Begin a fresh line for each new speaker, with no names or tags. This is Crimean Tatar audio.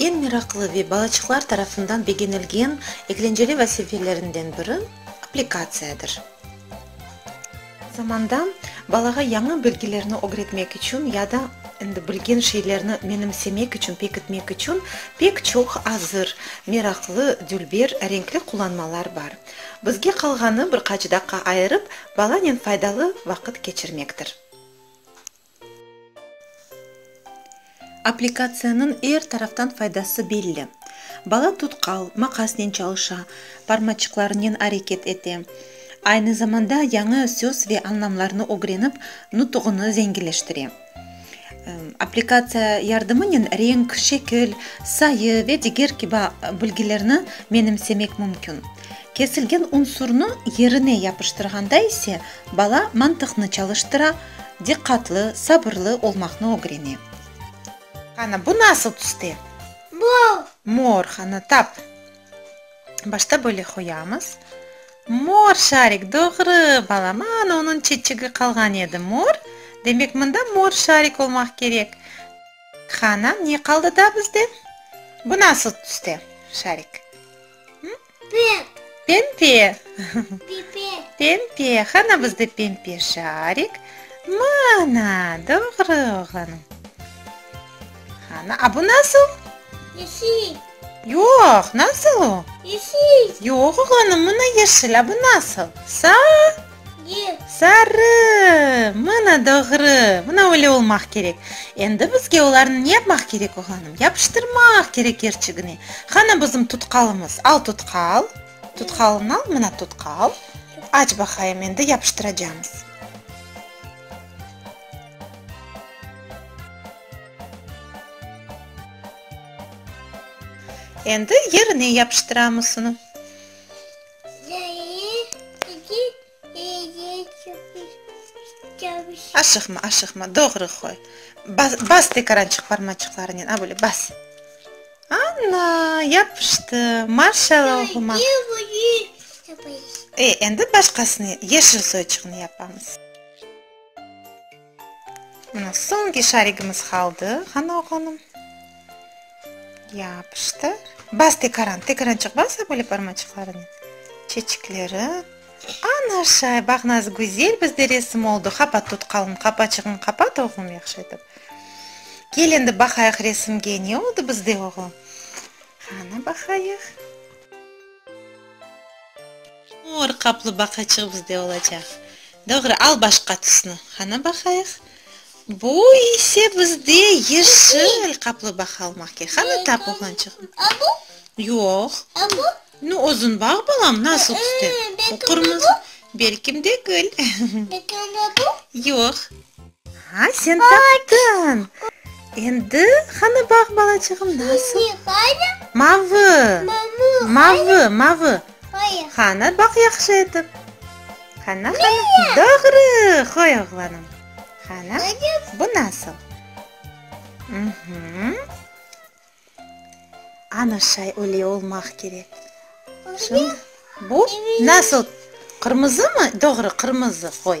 Eñ meraqlı ve balaçıqlar tarafından begenilgen eklenceli vazifelerinden biri, applikatsiyadır. Zamanda balağa yañı bilgilerni ögretmek içün ya da endi bilgen şeylerni menimsemek içün, pekitmek içün pek çoq azır, meraqlı, dülber, renkli qullanmalar bar. Bizge qalğanı, bir qaç daqqa ayırıp, balanen faydalı vaqıt keçirmektir. Aplikatsiyanıñ er taraftan faydası belli. Bala tutqal, maqasnen çalışa, parmaçıqlarınen areket ete. Aynı zamanda yañı söz ve añlamlarnı ögrenip, nutuğını zenginleştire. Aplikatsiya yardımınen renk, şekil, sayı ve diger kibi bilgilerni menimsemek mümkün. Kesilgen unsurnı yerine yapıştırğanda ise, bala mantıqnı çalıştıra, diqqatlı, sabırlı olmaqnı ögrene. Qana, bu nasıl tüste? Mor. Mor, qana, tap. Başta böyle qoyamız. Mor şarik, doğru, balam. Ana, onıñ çeçigi qalğan edi. Mor, demek, mında mor şarik olmaq kerek. Qana, ne qaldı daa bizde? Bu nasıl tüste, şarik? Pempe. Pempe. Qana bizde pempe şarik? Mana, doğru, oğlanım. Qana, a bu nasıl? Yoq, nasıl o? Yoq, oğlanım, mına yeşil, a bu nasıl? Sarı. Sarı! Mına doğru! Mına öyle olmaq kerek! Endi bizge olarnı ne yapmaq kerek, oğlanım? Yapıştırmaq kerek kerçigine! Qana bizim tutqalımız? Al tutqal! Tutqalını al, mına tutqal! Aç baqayım, endi yapıştıracamız. Endi yerine yapıştıramız onı. Aşıqma, aşıqma, doğru qoy. Bas, bas tekarançıq parmaçıqlarınen, a, böyle bas. Ana, yapıştı. Marşal oğluma. E, endi başqasını, yeşil soyçuqnı yapamız. Mına soñki şarigimiz qaldı, qani oğlanım. Yapıştır. Bas tekaran, tekaran çıq bas böyle parmaçıqlarınen. Çeçikleri. Ana şay, baq naz güzel bizde resim oldu. Qapat tut qalın, qapaçığıñ qapat oğlum yahşı etip. Kel endi baqayıq resimge ne oldu bizde oğlum. Qani baqayıq. Mor qaplı baqaçıq bizde olacaq. Doğru, al başqa tüsni, qana baqayıq. Bu ise bizde yeşil qaplı baqa almaq kerek. Qana tap, oğlançıq. A bu? Yoq. A bu? Nu, o zunbağ, balam, nasıl tüste? O qırmızı. Belkim degil. Belki onda bu? Yoq. Ha, sen taptıñ! Endi qanı baq, balacığım, nasıl? Mavı! Mavı, mavı! Qanı baq yahşı etip. Qana, qana. Doğru! Qoy, oğlanım. Qana, bu nasıl? Uhuu. Ana şay öyle olmaq kerek. Bu nasıl? Qırmızı mı? Doğru, qırmızı. Qoy.